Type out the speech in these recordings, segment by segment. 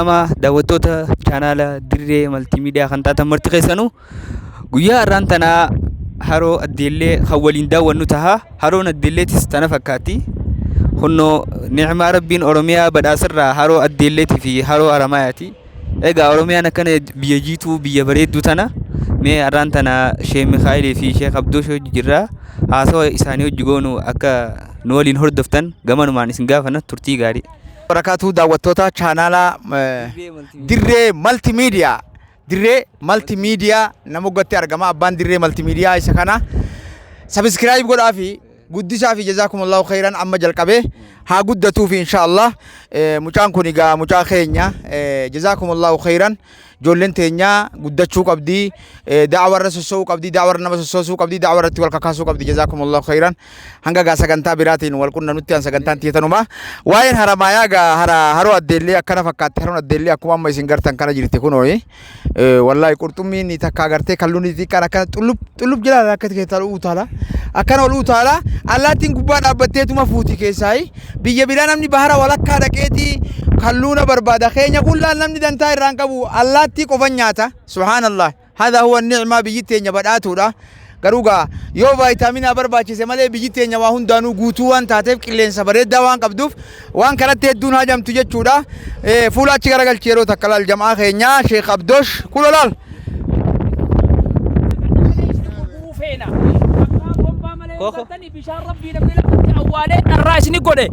Qaama daawwattoota chaanaala Dirree Maltiimiidiyaa kan taatan marti keessanuu guyyaa har'aan tanaa haroo Addeellee kan waliin daawwannu taha. Haroon Addeelleetis tana fakkaatti. Hunnoo ni'imaa Rabbiin Oromiyaa badhaasarraa haroo Addeelleetii fi haroo Haramaayaati. Egaa Oromiyaan akkana biyya jiituu biyya bareedduu tana mee har'aan tana Sheek Mikaa'elii fi Sheek Abdoo Shoo jirra. Haasawa isaanii hojii goonu akka nu waliin hordoftan gamanumaan isin gaafana turtii gaarii. barakaatuu daawwattoota chaanaala dirree malti miidiyaa dirree malti miidiyaa nama gatti argama abbaan dirree malti miidiyaa isa kana sabiskiraayib godhaa fi guddisaa fi jazaakumullahu khayran amma jalqabee haa guddatuu fi inshaallah mucaan kun egaa mucaa keenya jazaakumullahu khayran Ijoolleen teenya guddachuu qabdi. Da'awa irra sossoo'uu qabdi. Da'awa irra nama sossoosuu qabdi. Da'awa irratti wal kakaasuu qabdi. Jazaakumullahu khayran. Hanga gaa sagantaa biraatiin wal qunnanutti an sagantaan tiyatanuma. Waa'een haramaayaa gaa hara haroo addeellee akkana fakkaatti. Haroon addeellee akkuma amma isin gartan kana jirti kunooyi. Wallaahi qurxummiin ni takka agartee kalluun ni xiqqaan akkana xullub xullub jira akka keessaa utaala. Akkana ol utaala. Allaattiin gubbaa dhaabbatteetuma fuuti keessaayi. Biyya biraa namni bahara walakkaa dhaqeeti kalluuna barbaada. Keenya kun laal namni dantaa irraan qabu allaattii qofan nyaata. Subhaanallah. Haadha huwa ni'maa biyyi teenya badhaatuudha. Garuu gaa yoo vaayitaaminaa barbaachise malee biyyi teenya waa hundaanuu guutuu waan taateef qilleensa bareeddaa waan qabduuf waan kanatti hedduun hajamtu jechuudha. Eh, Fuula achi garagalchi yeroo takka laal jam'aa keenya Sheekh Abdoosh kulo laal. Koko. bishaan rabbii namni lafatti awwaalee dharraa isini godhe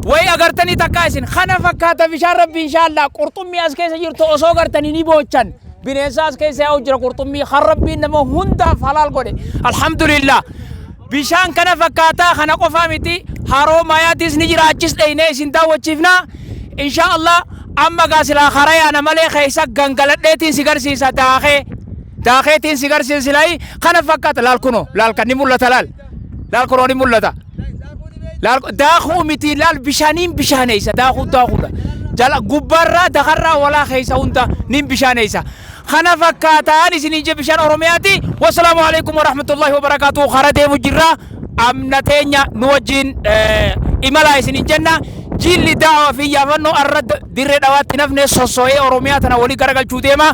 wayi agartanii takkaa isin kana fakkaata bishaan rabbii inshaallah qurxummii as keessa jirtu osoo gartanii ni boochan bineensa as keessa yaa'u jira qurxummii kan rabbiin nama hundaaf halaal godhe alhamdulillah bishaan kana fakkaataa kana qofaa miti haroo maayaatiis ni jira achis dheeynee isin daawwachiifna inshaallah amma gaa silaa karaa yaana malee keessa gangaladheetiin si garsiisa daakee Daakeetiin si garsiin silaayi kana fakkaata laal kunoo laal kan ni mul'ata laal laal kunoo ni mul'ata. Laal daakuu miti laal bishaaniin bishaaneessa daakuu daakuudha. Jala gubbaarraa dakarraa walaa keessa hunda niin bishaaneessa. Kana fakkaataan isiniin je bishaan Oromiyaati. Wassalaamu alaikum wa rahmatullahi wa barakaatu kara deemu jirra. Amna teenya nu wajjin imalaa isiniin jenna. Jiilli daawa fi yaafannoo arra dirree dhawaatti nafne sosso'ee Oromiyaa tana walii garagalchuu deema.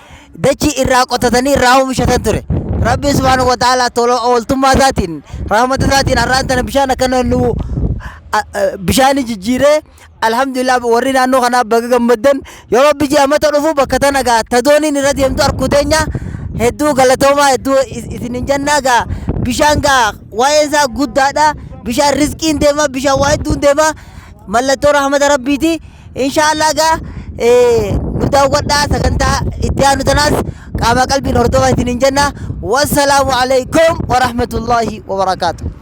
dachii irraa qotatanii irraa oomishatan ture. Rabbiin subhaanahu wa ta'aalaa tola ooltummaa isaatiin rahmata isaatiin har'aan tana bishaan akkana nu a- a- bishaanii jijjiiree alhamdulillah warri naannoo kanaa baga gammaddan yoo rabbi ji'a mata dhufu bakka tana gaa ta dooniin irra deemtu arkuu teenya hedduu galatoomaa hedduu is- isinin jannaa gaa bishaan gaa waa'een isaa guddaadha bishaan rizqiin deema bishaan waa hedduun deema mallattoo rahmata rabbiiti Inshaallah gaa nu daawwadhaa sagantaa itti aanu tanaas qaamaa qalbiin hordofaa isiniin jenna. Wassalaamu alaikum wa rahmatullahi wa barakaatu.